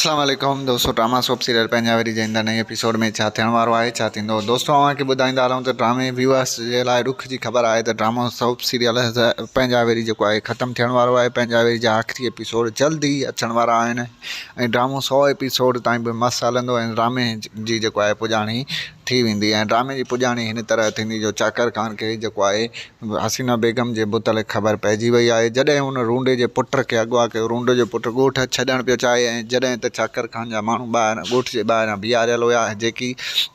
اسلام عليڪم دوستو ڊراما سوپ سيريل پنهنجا ويري جي ايندڙ نئين ايپيسوڊ ۾ ڇا ٿيڻ وارو آهي ڇا ٿيندو دوستو اوهان کي ٻڌائيندا رهون ته ڊرامي ويوئرس جي لاء ڏک جي خبر آهي ته ڊراما سوپ سيريل پنهنجا ويري جيڪو آهي ختم ٿيڻ وارو آهي پنهنجا ويري جا آخري ايپيسوڊ جلد ئي اچڻ وارا آهن ۽ ڊرامو سؤ ايپيسوڊ تائين به مس هلندو ۽ ڊرامي جي جيڪو آهي پڄاڻي ٿي ويندي ۽ ڊرامي جي پڄاڻي هن طرح ٿيندي جو چاڪر خان کي جيڪو آهي حسينه بيگم جي متعلق خبر پئجي وئي آهي، جڏهن هن رونڊي جي پٽ کي اغوا ڪيو، رونڊي جو پٽ ڳوٺ ڇڏڻ پيو چاهي ۽ جڏهن ته ڇاڪر خان جا ماڻهو ٻاهران ڳوٺ جي ٻاهران بيهاريل هيا جيڪي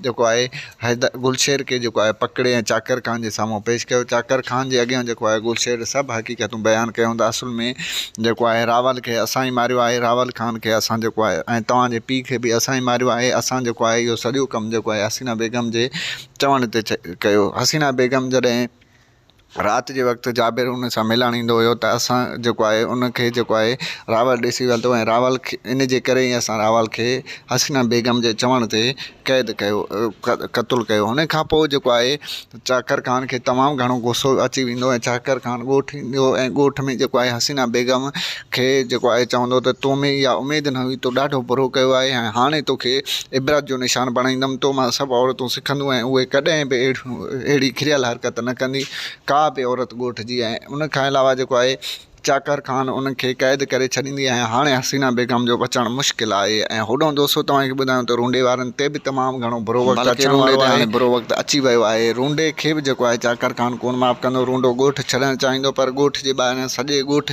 جيڪو آهي حيدر گلشير کي جيڪو آهي پڪڙي ۽ چاڪر خان جي سامهون پيش ڪيو، چاڪر خان جي اڳيان جيڪو آهي گلشير سڀ حقيقتون بيان ڪيائون ته اصل ۾ جيڪو آهي راول کي اسان ئي ماريو آهي، راول خان کي اسان جيڪو آهي ۽ توهان جي پيء کي به اسان ئي ماريو آهي، اسان جيڪو آهي اهو سڄو ڪم جيڪو آهي حسينه بيگم جي چوڻ هتي ڪيو. حسينا بيگم جڏهن رات جي وقت جابر ان سان ملڻ ايندو هيو ته اسان جيڪو آهي ان کي جيڪو آهي راول ڏسي ويهندو ۽ راول کي ان جي ڪري ئي اسان راول کي حسينا بيگم جي چوڻ تي قيد ڪيو قتل ڪيو ان کان پوء جيڪو آهي چاڪر خان کي تمام گهڻو غصو اچي ويندو ۽ چاڪر خان ڳوٺ ايندو ۽ ڳوٺ ۾ جيڪو آهي حسينا بيگم کي جيڪو آهي چوندو ته تو ۾ اها اميد نه هئي، تو ڏاڍو برو ڪيو آهي ۽ هاڻي توکي عبرت جو نشان بڻائيندم، تو مان سڀ عورتون سکنديون ۽ اهي ڪڏهن به اهڙي ڪريل حرڪت نه ڪندي، ڪا به عورت ڳوٺ جي ۽ ان کان علاوه جيڪو آهي چاڪر خان ان کي قيد ڪري ڇڏيندي ۽ هاڻي حسينه بيگم جو بچڻ مشڪل آهي ۽ هوڏهون دوستو توهان کي ٻڌايون ته رونڊي وارن تي به تمام گهڻو برو وقت اچڻ وارو آهي، بلڪ رونڊي تي هاڻي برو وقت اچي ويو آهي، رونڊي کي به جيڪو آهي چاڪر خان ڪونه معاف ڪندو، رونڊو ڳوٺ ڇڏڻ چاهيندو پر ڳوٺ جي ٻاهريان سڄي ڳوٺ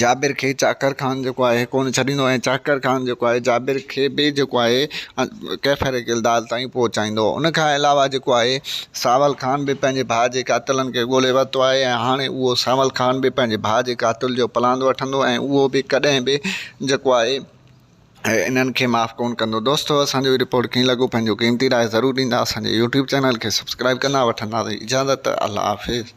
جابر کي چاڪر خان جيڪو آهي ڪونه ڇڏيندو ۽ چاڪر خان جيڪو آهي جابر کي به جيڪو آهي ڪيفر ڪلدار تائين پهچائيندو هو ان کان علاوه جيڪو آهي ساول خان به پنهنجي ڀاء جي قاتلن کي ڳولي ورتو آهي ۽ هاڻي اهو ساول خان به پنهنجي ڀاء جي قاتل جو پلاند وٺندو ۽ اهو به ڪڏهن به جيڪو آهي انهن کي معاف ڪون ڪندو دوستو اسانجو رپورٽ ڪيئن لڳو پنهنجو قيمتي راء ضرور ڏيندا اسانجي يوٽيوب چينل کي سبسڪرائب ڪندا وٺنداسين اجازت الله حافظ